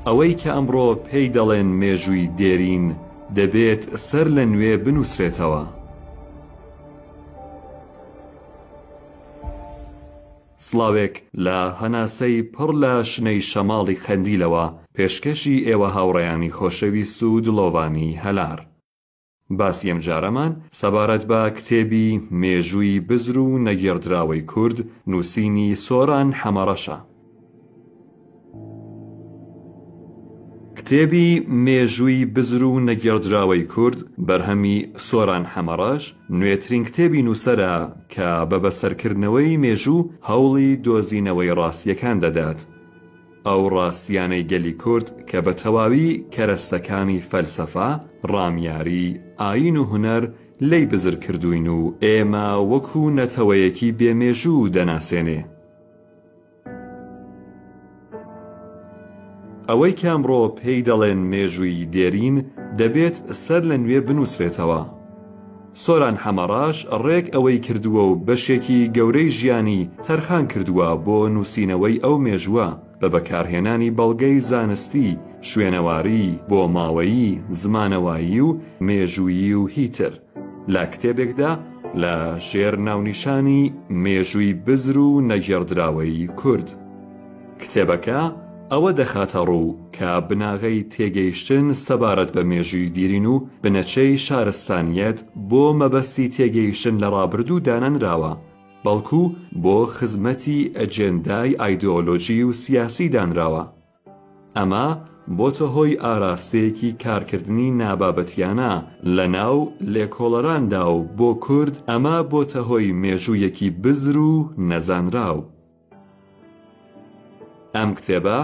ئەوەی کە ئەمڕۆ پێی دەڵێن مێژووی دێرین دەبێت سەر لە نوێ بنووسرێتەوە. سڵاوێک لە هەناسەی پڕ لە شنەی شەماڵی قەندیلەوە پێشکەشی ئێوە هاوڕێیانی خۆشەویست و دڵۆڤانی هەلار. باسی ئەمجارەمان سەبارەت بە کتێبی، مێژووی بزر و نەگێڕدراوەی کورد، نووسینی، سۆران حەمەڕەش، ە. کتێبی، مێژووی بزر و نەگێڕدراوەی کورد، بەرهەمی، سۆران حەمەڕەش، نوێترین کتێبی نووسەرە کە بە بەسەرکردنەوەی مێژوو هەوڵی دۆزینەوەی ڕاستییەکان دەدات. ئەو ڕاستییانەی گەلی کورد کە بە تەواوی کەرەستەکانی فەلسەفە، ڕامیاری، ئایین و هونەر لێی بزر کردووین و ئێمە وەکو نەتەوەیەکی بێ مێژوو دەناسێنێ. ئەوەی کە ئەمڕۆ پێی دەڵێن مێژووی دێرین، دەبێت سەر لە نوێ بنووسرێتەوە. سۆران حەمەڕەش ڕێک ئەوەی کردووە و بەشێکی گەورەی ژیانی تەرخان کردووە بۆ نووسینەوەی ئەو مێژووە، بە بەکارهێنانی بەڵگەی زانستی، شوێنەواری، بۆماوەیی، زمانەوایی و مێژوویی و هی تر، لە کتێبێکدا لە ژێر ناونیشانی مێژووی بزر و نەگێڕدراوەی کورد. کتێبەکە ئەوە دەخاتەڕوو کە بناغەی تێگەیشتن سەبارەت بە مێژووی دیرین و بنەچەی شارستانییەت بۆ مەبەستی تێگەیشتن لە ڕابردوو دانەنراوە، بەڵکو بۆ خزمەتی ئەجێندای ئایدۆلۆژی و سیاسی دانراوە. ئەمە بۆتە هۆی ئاراستەیەکی کارکردنی نابابەتیانە لە ناو لێکۆڵەراندا و بۆ کورد ئەمە بۆتە هۆی مێژوویەکی بزر و نەزانراو. ئەم کتێبە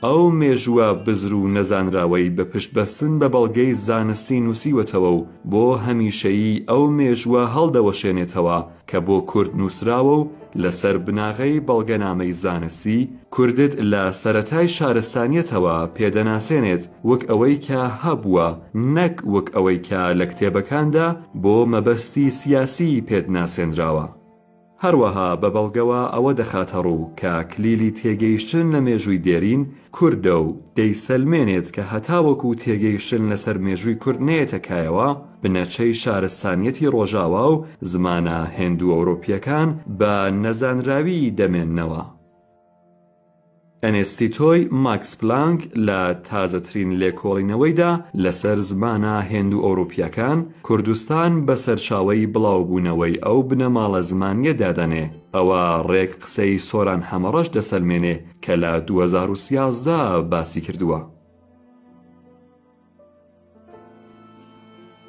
ئەو مێژووە بزر و نەزانراوەی بە پشت بەستن بە بەڵگەی زانستی نووسیوەتەوە و بۆ هەمیشەیی ئەو مێژووە هەڵدەوەشێنێتەوە کە بۆ کورد نووسراوە و لە سەر بناغەی بەڵگەنامەی زانستی کوردت لە سەرەتای شارستانیەتەوە پێ دەناسێنێت وک ئەوەی کە هەبووە نەک وک ئەوەی کە لە کتێبەکاندا بۆ مەبەستی سیاسی پێت ناسێنراوە. هەروەها بە بەڵگەوە ئەوە دەخاتەڕوو کە کلیلی تێگەیشتن لە مێژووی دێرین، کوردە و دەیسەلمێنێت کە هەتاوەکو تێگەیشتن لەسەر مێژووی کورد نەیەتە کایەوە، بنەچەی شارستانیەتی ڕۆژاوا و زمانە هێندوئەورۆپییەکان بە نەزانراویی دەمێننەوە. ئەنێستیتۆی ماکس پلانک لە تازەترین لێکۆڵینەوەیدا لەسەر زمانە هێندوئەوروپییەکان، کوردستان بە سەرچاوەی بڵاوبوونەوەی ئەو بنەماڵە زمانییە دادەنێ، ئەوە ڕێک قسەی سۆران حەمەڕەش دەسەلمێنێ کە لە دوو هەزار و سیازدە باسی کردووە.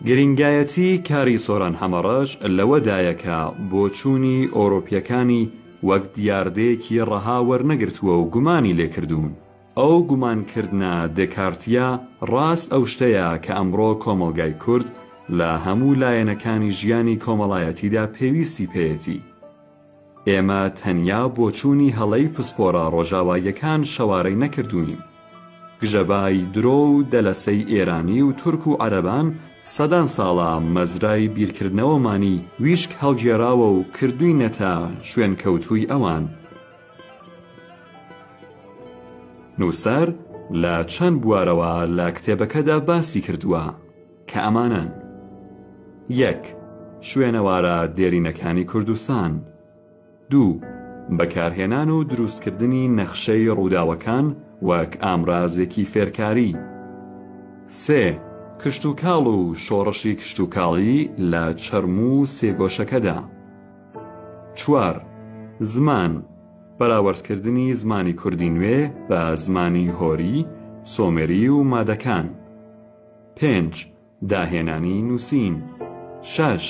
گرینگایەتی کاری سۆران حەمەڕەش لەوەدایە کە بۆچوونی ئەوڕۆپیەکانی وەک دیاردەیەکی ڕەها وەرنەگرتووە و گومانی لێکردوون. ئەو گومانکردنە دێکارتیە ڕاست ئەو شتەیە کە ئەمڕۆ کۆمەڵگای کورد لە هەموو لایەنەکانی ژیانی کۆمەڵایەتیدا پێویستی پێیەتی. ئێمە تەنیا بۆچوونی هەڵەی پسپۆرە ڕۆژاواییەکان شەوارەی نەکردووین. گژەبای درۆ و دەلەسەی ئێرانی و تورک و عەرەبان سەدان ساڵە مەزرای بیرکردنەوەمانی ویشک هەڵگێراوە و کردووینەتە شوێنکەوتووی ئەوان. نووسەر لە چەند بوارەوە لە کتێبەکەدا باسی کردووە. کە ئەمانەن، یەک. شوێنەوارە دێرینەکانی کوردستان. دوو. بەکارهێنان و دروستکردنی نەخشەی ڕووداوەکان وەک ئامرازێکی فێرکاری. سێ. کشتوکاڵ و شۆڕشی کشتوکاڵی لە چەرموو سێگۆشەکەدا. چوار. زمان، بەراوردکردنی زمانی کوردی نوێ بە زمانی هۆری، سۆمێری و مادەکان. پێنج، داهێنانی نووسین. شەش،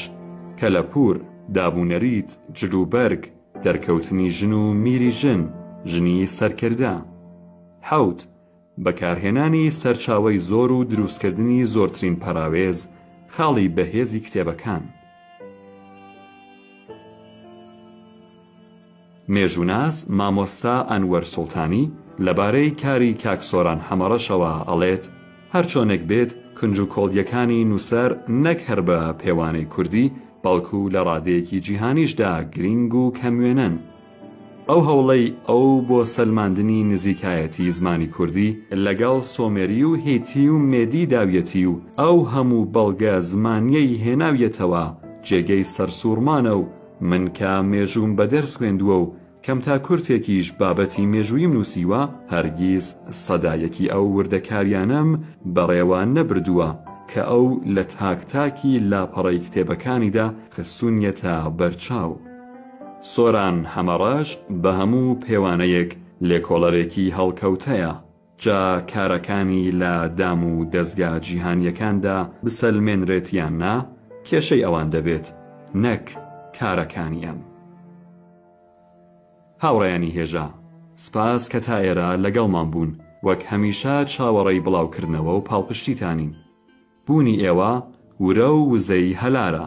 کەلەپوور، دابونەریت، جلوبەرگ، دەرکەوتنی ژن و میری ژن، ژنی سەرکردە. حەوت، بەکارهێنانی سەرچاوەی زۆر و درووستکردنی زۆرترین پەراوێز، خاڵی بەهێزی کتێبەکان. مێژووناس مامۆستا ئەنوەر سوڵتانی لەبارەی کاری کاک سۆران حەمەڕەشەوە ئەڵێت، هەرچۆنێک بێت کونج و کۆڵیەکانی نووسەر نەک هەر بە پێوانەی کوردی بەڵکو لە ڕادەیەکی جیهانیشدا گرینگ و کەموێنەن. ئەو هەوڵەی ئەو بۆ سەلماندنی نزیکایەتی زمانی کوردی لەگەڵ سۆمێری و هیتی و مێدی داویەتی و ئەو هەموو بەڵگە زمانیەی هێناویەتەوە جێگەی سەرسووڕمانە و من کە مێژووم بە دەرس خوێندووە و کەم تا کورتێکیش بابەتی مێژووییم نووسیوە، هەرگیز سەدایەکی ئەو وردەکارییانەم بەڕێوە نەبردووە کە ئەو لە تاک تاکی لاپەڕەی کتێبەکانیدا خستوونیەتە بەرچاو. سۆران حەمەڕەش بە هەموو پێوانەیەک لێکۆڵەرێکی هەڵکەوتەیە. جا کارەکانی لە دام و دەزگا جیهانییەکاندا بسەلمێنرێت یان نا، کێشەی ئەوان دەبێت نەک کارەکانی ئەم. هاوڕێیانی هێژا، سپاس کە تا ئێرە لەگەڵمان بوون، وەک هەمیشە چاوەڕێی بڵاوکردنەوە و پاڵپشتیتانین. بوونی ئێوە ورە و وزەی هەلارە.